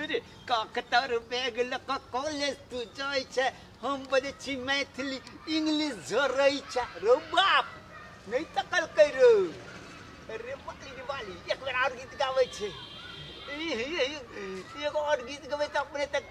अरे काकतार बैग लऽ कऽ कॉलेज तू जाइ छै हम बजै छी मैथिली इंग्लिश झरै छै रो बाप नहि तकल कै रो अरे बाली रे बाली एक बेर आओर गीत गाबै छै ई- ई- ई- एगो आओर गीत गबै तऽ अपने तक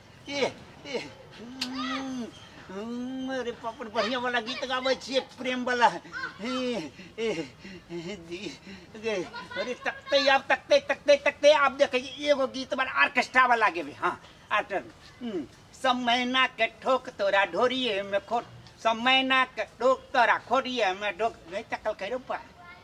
एह एह हम्म, हम्म, अरे बाप रे बढ़िया वाला गीत गाबै छियै प्रेम वाला एह, एह, एह, जी, गे, अरे तकते आब तकते तकते तकते आब देखै छी एगो गीत वाला ऑर्केस्ट्रा वाला गेबै हाँ आर्टर हम्म, सब मैना के ठोक तोरा ढोरिए में खोट सब मैना के ठोक तोरा खोरिए में ढोक नहीं तकल करो पा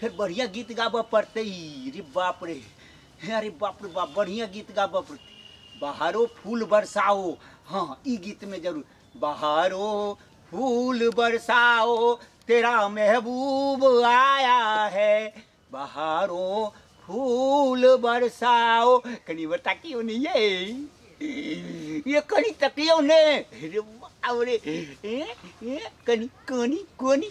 फेर बढ़िया गीत गाबऽ पड़तै रे बाप रे हे अरे बाप रे बाप बढ़िया गीत गाबऽ पड़तै बाहरो फूल बरसाओ हाँ ई गीत में जरूर बाहरो फूल बरसाओ तेरा महबूब आया है बाहरो फूल बरसाओ कनी बता की होनी ये ये कनी तकियो ने रे बाप रे ए ए कनी कोनी कोनी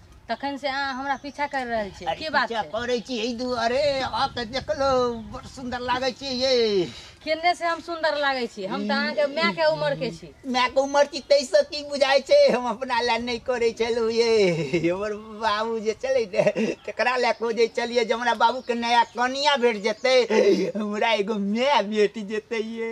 तखन से अहाँ हमरा पीछा कर रहल छी की बात छै करै छी एहि दुआरे आ तऽ देखलो बड़ सुंदर लागै छी ये केने से हम सुंदर लागै छी हम तऽ अहाँके माय के उम्र के छी माय के उम्र की तैसे की बुझाय छै हम अपना ले नहि करै छलौ ये हमर बाबू जे चलै ने तकरा ले खोजै छलियै जे हमरा बाबू के नया कनिया भेट जेतै हमरा एगो माय भेट जेतै ये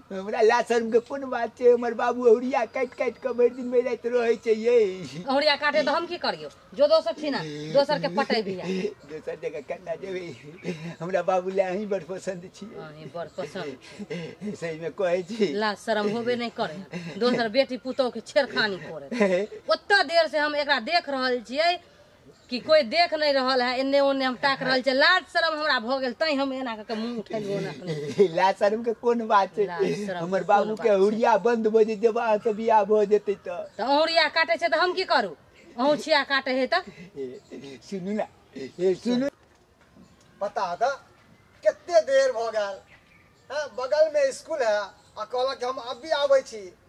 हमरा ला शर्म के कोन बात छै हमर बाबू अहुरिया काटि काटि के भरि दिन भरि राति रहै छै ये अहुरिया काटे तो हम की करियो जो दोसर छी ना दोसर के पटे भी है दोसर जगह कन्ना जेबै हमरा बाबू ला अहीं बड़ पसंद छी अहीं बड़ पसंद सही में कहै छी ला शर्म होबे नहीं करे दोसर बेटी पुतोह के छेड़खानी करे ओत्ता देर से हम एकरा देख रहल छियै कि कोई देख नहीं रहल है एने ओने हम ताक रहल छै लाज शरम हमरा भ गेल तै हम एना करके मुंह उठेलु ओना अपने लाज शर्म के कोन बात छै लाज शरम हमर के बाबू कोन के हुरिया बंद भ जेते बा त बियाह भ जेते त त अहुरिया काटे छै त हम की करू अहु छिया काटे है त ए, सुनू ना ए, सुनू बता द कते देर भ गेल हाँ, बगल में स्कूल है आ कहलक हम अभी आबै छी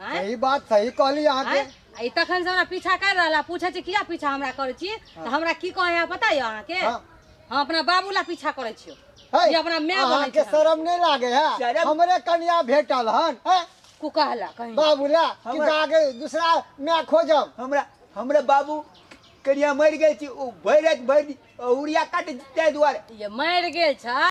आँय? सही बात सही कहली अहाँ के आँय? आ ई तखन से हमरा पीछा कर रहला पूछे छी किया पीछा हमरा करै छी तऽ हमरा की कहै है पता यऽ अहाँके हाँ। हम अपना बाबू ला पीछा करै छियो है, ई अपना माय अहाँ बनै के छै शर्म नहीं लागे है शर्म- हमरे कन्या भेटल हन है कु कहला कहीं बाबूला कि हमरा- जाके दूसरा मैं खोजब हमरा हमरा बाबू करिया मरि गेल छी ओ भरि राति भरि दिन उड़िया काटे ताहि दुआरे ये मर गेल छ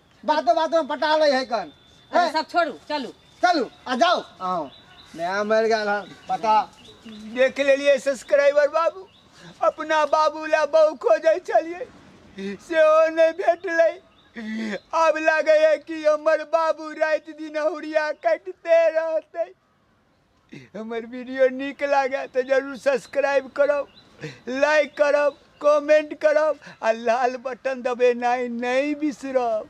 बातो बातो में पटा ले है कन अरे ए, सब छोड़ू चलू चलू आ जाओ आओ नया मर गया हन पता देख लेलिए सब्सक्राइबर बाबू अपना बाबू ला बहु खोजै छलिए सेहो नहि भेटलै आब लागैए कि हमर बाबू राति दिन हुरिया कटिते रहतै हमर वीडियो नीक लागे तो जरूर सब्सक्राइब करब लाइक करब कमेंट करब आ लाल बटन दबेनाइ नहीं बिसरब